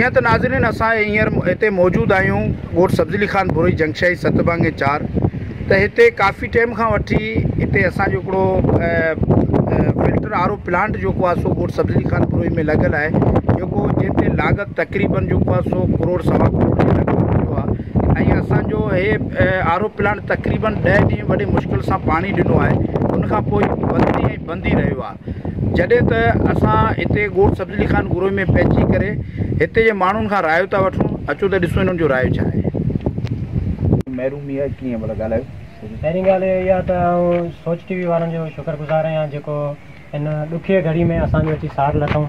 جيئن ته ناظرين اسان هينئر هتي موجود آهيون ڳوٺ سبز علي خان ڀوري جنگشاهي ست ڀنگ ۽ چار ته هتي ڪافي ٽيم کان وٺي هتي اسان جو هڪڙو فلٽر آر او پلانٽ جيڪو آهي سو ڳوٺ سبز علي خان ڀوري ۾ لڳل آهي جيڪو جنهن تي لاڳت تقريبن جيڪو آهي سو ڪروڙ سوا ڪروڙ جو لڳ ڀڳ ٿيو آهي ۽ اسان جو هي آر او پلانٽ تقريبن ڏهه ڏينهن وڏي مشڪل سان پاڻي ڏنو آهي ان کان پوء بند ۽ بند ئي رهيو آهي جڏهن ته اسان هتي ڳوٺ سبز علي خان گروهي ۾ پهچي ڪري هتي جي ماڻهن کان رايو ٿا وٺون اچو ته ڏسون انهن جو رايو ڇا آهي. محرومي آهي ڪيئن ڀلا ڳالهايو. پهرين ڳالهه اهي اها ته آئون سوچ ٽي وي وارن جو شڪر گذار آهيان جيڪو ان ڏکيي گهڙي ۾ اسان جو اچي ساٿ لڌائون.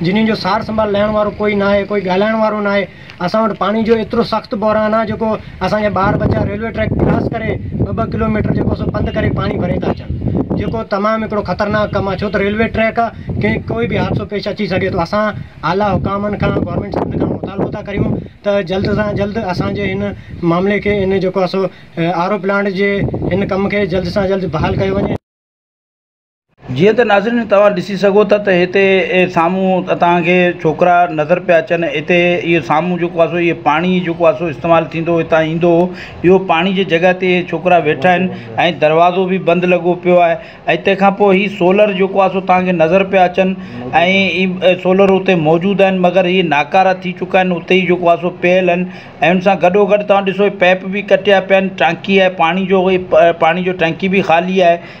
جنھن جو سار سنڀال لھڻ وارو ڪوئي ناھي ڪوئي ڳالھائڻ وارو ناھي اسان وٽ پاڻي جو ايترو سخت بحران آ جيڪو اسان جا ٻار ٻچا ريلوي ٽريڪ ڪراس ڪري ٻه ٻه ڪلو ميٽر جيڪو سو پنڌ ڪري پاڻي ڀري ٿا اچن جيڪو تمام ھڪڙو خطرناڪ ڪم آ ڇو ته ريلوي ٽريڪ آ ڪنھن ڪوئي به حادثو پيش اچي سگھي ٿو اسان اعليٰ حڪامن کان گورنمينٽ سنڌ کان مطالبو ٿا ڪريون ته جلد سان جلد اسان جي ھن معاملي کي ھن جيڪو آ سو آر او پلانٽ جي ھن ڪم کي جلد سان جلد بحال ڪيو وڃي جيئن ته ناظرين توهان ڏسي سگهو ٿا ته هتي سامهون توهان کي ڇوڪرا نظر پيا اچن هتي اهو سامهون جيڪو آهي سو اهو پاڻي جيڪو آهي سو استعمال ٿيندو هتان ايندو هو اهو پاڻي جي جڳهه تي اهي ڇوڪرا ويٺا آهن ۽ دروازو به بند لڳو پيو آهي ۽ تنهن کان پوء هي سولر جيڪو آهي سو توهان کي نظر پيا اچن ۽ سولر اتي موجود آهن مگر اهي ناڪارا ٿي چڪا آهن اتي ئي جيڪو آهي سو پيل آهن ۽ ان سان گڏو گڏ توهان ڏسو پيپ به ڪٽيا پيا آهن ٽانڪي آهي پاڻي جو اهي پاڻي جو ٽانڪي به خالي آهي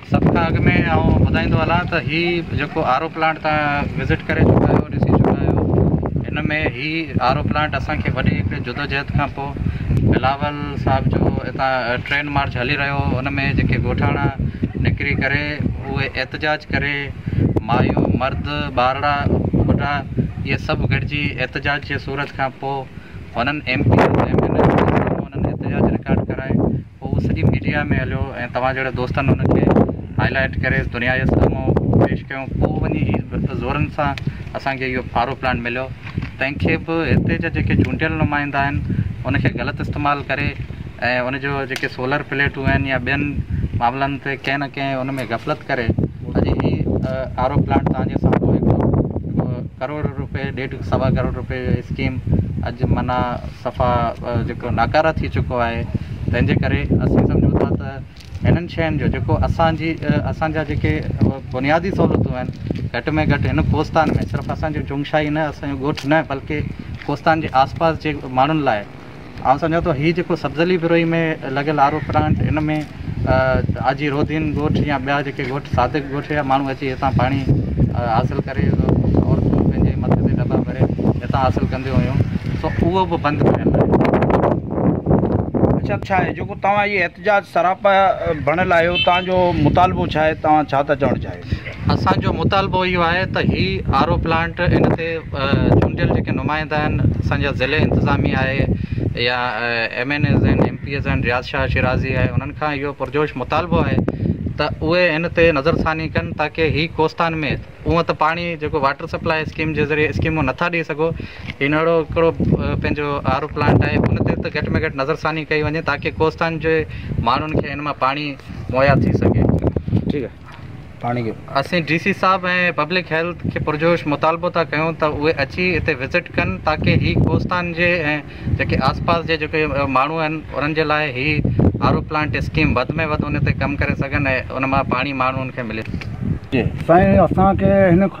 سڀ کان اڳ ۾ آئون ٻڌائيندو هلان ته هي جيڪو آر او پلانٽ تان وزٽ ڪري چڪا آهيو ڏسي چڪا آهيو هن ۾ هي آر او پلانٽ اسانکي وڏي هڪڙي جدوجهد کان پوء بلاول صاحب جو هتان ٽرين مارچ هلي رهيو ان ۾ جيڪي ڳوٺاڻا نڪري ڪري اهي احتجاج ڪري مايون مرد ٻارڙا ٻڍا اهي سڀ گڏجي احتجاج جي صورت کان پوء هنن M P M N L L سان هنن احتجاج رڪارڊ ڪرائي پوء هو سڄي ميڊيا ۾ هليو ۽ توهان جهڙن دوستن ان کي هائي لائيٽ ڪري دنيا جي سامهون پيش ڪيو پوء وڃي زورن سان اسان کي اهو پارو پلانٽ مليو تنهن کي به هتي جا جيڪي چونڊيل نمائندا آهن ان کي غلط استعمال ڪري ۽ ان جو جيڪي سولر پليٽون آهن يا ٻين معاملن تي ڪنهن نه ڪنهن ان ۾ غفلت ڪري اڄ هي آر او پلانٽ توهان جي سامهون هڪ ڪروڙ روپئي ڏيڍ سوا ڪروڙ روپئي جو اسڪيم اڄ معنيٰ صفا جيڪو ناڪاره ٿي چڪو آهي تنهن جي ڪري اسين سمجهون ٿا ته هنن شين جو جيڪو اسانجي اسانجا جيڪي بنيادي سهولتون آهن گهٽ ۾ گهٽ هن ڪوستان ۾ صرف اسانجو جونگشاهي نه اسانجو ڳوٺ نه بلڪه ڪوستان جي آس پاس جي ماڻهن لاء آئون سمجهان ٿو هي جيڪو سبزلي بروهي ۾ لڳل آر او پلانٽ ان ۾ آجي رودين ڳوٺ يا ٻيا جيڪي ڳوٺ صادق ڳوٺ جا ماڻهو اچي هتان پاڻي حاصل ڪري عورتون پنهنجي مٿي تي دٻا ڀري هتان حاصل ڪنديون هيون سو اهو به بند ڪيل آهي اڇا ڇا آهي جيڪو توهان احتجاج سراپا بڻيل آهيو توهان جو مطالبو ڇا آهي توهان ڇا ٿا چوڻ چاهيو اسان جو مطالبو اهو آهي ته هي آر او پلانٽ ان تي چونڊيل جيڪي نمائندا آهن اسان جا ضلعي انتظاميه آهي يا M N As M P As آهن رياض شاهه شيرازي آهي انهن کان اهو پرجوش مطالبو آهي ته اهي ان تي نظر ثاني ڪن تاڪي هي ڪوستان ۾ هونء ته پاڻي جيڪو واٽر سپلاء اسڪيم جي ذريعي اسڪيمون نٿا ڏئي سگهو هن اهڙو هڪڙو پنهنجو آر او پلانٽ آهي ان تي ته گهٽ ۾ گهٽ نظر ثاني ڪئي وڃي تاڪي ڪوستان جي ماڻهن کي ان مان پاڻي مهيا ٿي سگهي ٺيڪ آهي اسين ڊي سي صاحب ۽ پبلڪ هيلٿ کي پرجوش مطالبو ٿا ڪيون ته اهي اچي هتي وزٽ ڪن تاڪي هي ڪوستان جي ۽ جيڪي آس پاس جي جيڪي ماڻهو آهن انهن جي لاء هي آر او پلانٽ اسڪيم وڌ ۾ وڌ ان تي ڪم ڪري سگهن ۽ ان مان پاڻي ماڻهن کي ملي سگهي. سائين اسان کي هن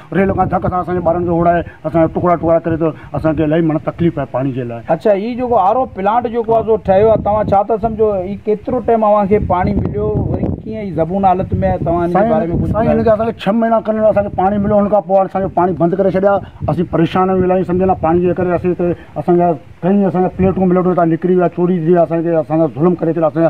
ريل کان ڌڪ سان اسان جي ٻارن کي هوڙائي اسان جا ٽڪرا ٽڪرا ڪري ٿو اسان کي الائي معنيٰ تڪليف آهي پاڻي جي لاء. اڇا هي جيڪو آر او پلانٽ جيڪو آ سو ٺهيو آ توهان ڇا ٿا سمجهو هي ڪيترو ٽيم اوهان کي پاڻي مليو وري ڪيئن هي زبون حالت ۾ آهي توهان هن جي باري ۾ ڪجهه ٻڌايو. سائين هن کي اسان کي ڇهه مهينا کن اسان کي پاڻي مليو هن کان پوء اسان کي پاڻي بند ڪري ڇڏيا اسين پريشان آهيون الائي سمجهه نه پاڻي جي ڪري اسين هتي اسان جا ڪئين اسان جا پليٽون ٻليٽون هتان نڪري ويا چوري ٿي ويا اسان کي اسان سان ظلم ڪري ڇڏيا اسان جا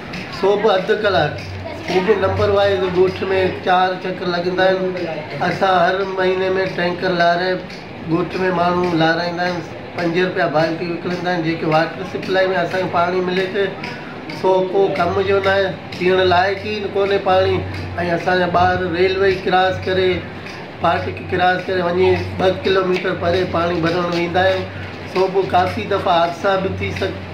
سو به اڌ ڪلاڪ. هو به نمبر وائيز ڳوٺ ۾ چار چڪر لڳندا آهن. اسان هر مهيني ۾ ٽينڪر لاري ڳوٺ ۾ ماڻهو لارائيندا آهن. پنج رپيا بالٽي وڪڻيندا آهن. جيڪي واٽر سپلائي ۾ اسان کي پاڻي ملي ٿي سو ڪو ڪم جو ناهي. پيئڻ لائق ئي ڪونهي پاڻي ۽ اسان جا ٻار ريلوي ڪراس ڪري ڦاٽڪ ڪراس ڪري وڃي ٻه ڪلوميٽر پري پاڻي ڀرڻ ويندا آهن. سو به ڪافي دفعا حادثا به ٿي سگهن.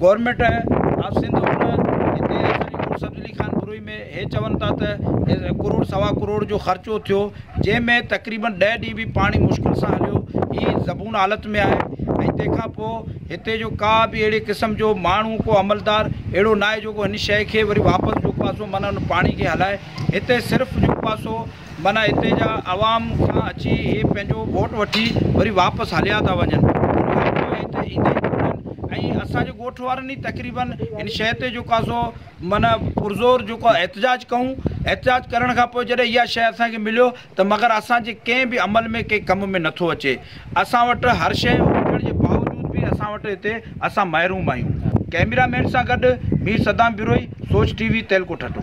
گورنمينٽ آف سنڌ ان هتي اسانجي ڪوٽ سبز علي خان بروهي ۾ هي چون ٿا ته ڪروڙ سوا ڪروڙ جو خرچو ٿيو جنهن ۾ تقريبن ڏهه ڏينهن به پاڻي مشڪل سان هليو هي زبون حالت ۾ آهي ۽ تنهن کان پوء هتي جو ڪا به اهڙي قسم جو ماڻهو ڪو عملدار اهڙو ناهي جيڪو هن شيء کي وري واپس جو ڪو آسو معنيٰ ان پاڻي کي هلائي هتي صرف جو ڪو آسو معنيٰ هتي جا عوام کان اچي هي پنهنجو ووٽ وٺي وري واپس هليا ٿا وڃن. انهيء ڪري هت ايندي ڪونهن ۽ اسان جي ڳوٺ وارن ئي تقريباً هن شيء تي جيڪو آهي سو معنيٰ پرزور جيڪو آهي احتجاج ڪئون. احتجاج ڪرڻ کان پوء جڏهن اها شيء اسان کي مليو ته مگر اسان جي ڪنهن به عمل ۾ ڪنهن ڪم ۾ نٿو اچي. اسان وٽ هر شيء هجڻ جي باوجود به اسان وٽ هتي اسان محروم آهيون. ڪئميرا مين سان گڏ مير صدام بروهي، سوچ ٽي وي، تيلڪوٽ ٺٽو.